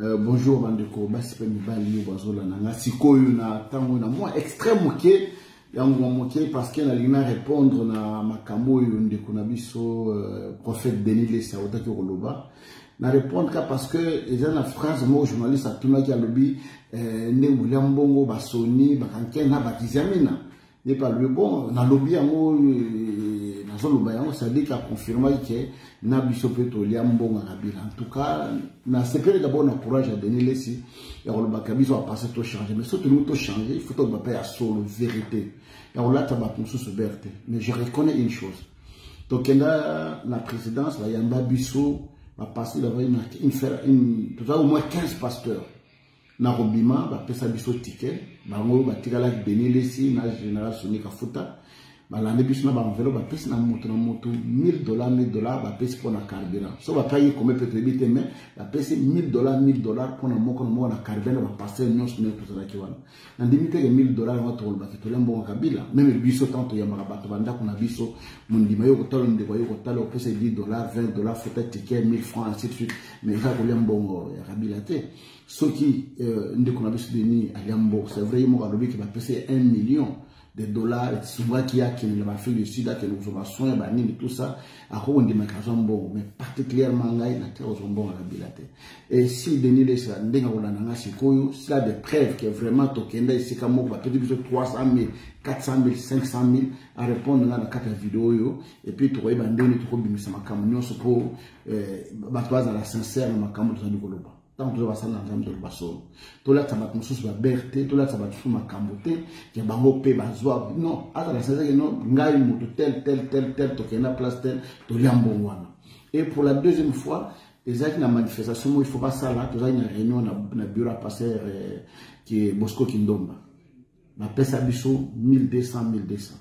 Euh, bonjour bandeko basi mpe mibali oyo bazolanda nga sikoyo na ntango na mwa extrait moke ya nguma moke parceke nalingi na répondre na makambo oyo ndeko na biso euh, prophète denis lesi autaki koloba na répondre ka parce que eza na phrase moko journaliste atunaki alobi euh, ndenge bolia mbongo basoni bakanke na bakizamina n'est pas le bon nalobi yango euh, nazoloba yango sadiki aconfirmaki ke na biso mpe tolia mbongo ya kabila en tout cas nasepeli dabord na courage ya denis lesi ya kolobaka biso apase tochange mais so tolingi tochange il faut toloba mpe ya solo vérité ya kolata bato mosusu bere te mais je reconnais une chose tokenda na présidence bayamba biso bapasteur bazali na toza au moins 15 pasteurs na kobima bapesa biso tike bango batikalaki denis lesi na général soni kafuta balandi biso na baenvelo bapesi na moto na moto 1000 dollar 1000 dollar bapesi mpo na carburant so bapaki kome mpe toyebi te mai bapesi 1000 dollar 1000 dollar mpo na moko na moko na carburant na baparcele nyonso ndenge tozalaki wana na ndimi teke 1000 dollar yango tokolobaki tolia mbongo kabila meme biso ntango toyambaka bato bandako na biso mondima yo kotala ndeko yo kotala opesa 10 dollar 20 dollar fota ticket 1000 franc ainsi de suite mais eza kolia mbongo ya kabila te soki euh, ndeko na biso denis alia mboko c'est vrai ye moko alobi ke bapesa ye 1 million de dollars esungaki akende na baafrique du sud akende kozwa basoin ya banini tout ça akoki kondimaka azwa mbongo mais particulièrement ngai natika kozwa mbongo na bila te et si denis lesa ndenge akolanda ngai sikoyo sila de preuve ke vraiment tokenda esika moko bapeti biso 300 000 400 000 500 000 arépondre ngai na kati ya video oyo epuis tokoyeba ndenge tokobimisa makambo nyonso mpo eh, bato bazala sincere na makambo tozali koloba ntango toza basali na nzambe toloba solo tolatisa bato mosusu babere te tolatisa bato mosusu makambo te ya bango mpe bazwa non azala sincere non ngai moto tel tel tel tel tokende na place tel tolia mbongo wana et pour la deuxième fois ezalaki na manifestation moko il faut basala tozalaki na réunion na bureau ya passer eh, bosco kindomba bapesa biso 1200 1200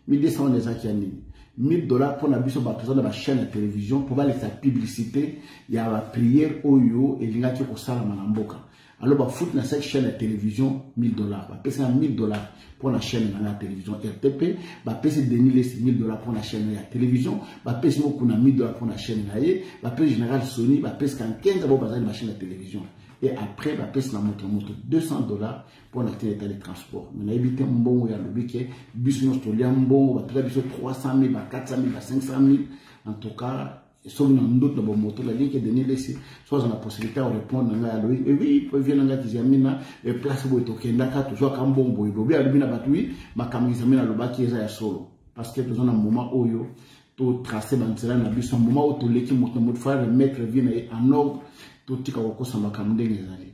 1200 wana ezaki ya nini 1000 dollars mpo na biso bato eza na bachaîne ya télévision mpo balekisa publicité ya baprière oyo elingaki kosalama na mboka alo bafuti na cette chaîne ya télévision 1000 dollars bapesi na 1000 dollars mpo na chaîne na nga ya télévision rtp bapesi denis lesi 1000 dollars mpo na chaîne ya télévision bapesi mokuna 1000 dollars mpo na chaîne na ye bapesi général sony bapesi kankenza bao bazali na bachaîne ya télévision et après bapesi na moto na moto 200 dollars mpo na tina etali transport me nayebi te mbongo ya lobi ke biso nyonso tolia mbongo bateka biso 300 mille ba 400 mille ba 500 mille en tout cas soki na ndoto na bomoto naliki denis lesi so aza na possibilité ya korépondre na ngai alobi ewi vie na ngai kizamina place boye tokendaka tozwaka mbongo boye bobi alobi na bato wi makambo kizamina alobaki eza ya solo parce que toza na moment oyo totrace banzela na biso moment oyo toleki moto na moto fa remettre vie na ye en ordre totika kokosa makambo ndenge ezali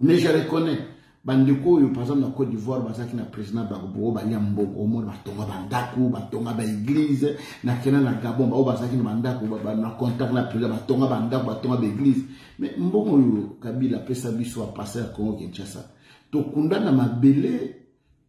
mais je reconnais bandeko oyo par exemple na côte d'ivoire bazalaki na président bagbo balia mbongo omona batonga bandako batonga baeglise na kena na gabon baoyo bazalaki na bandako na contact na président batonga bandako batonga baeglise mais mbongo oyo kabila apesa biso apasa ya congo kinshasa tokunda na mabele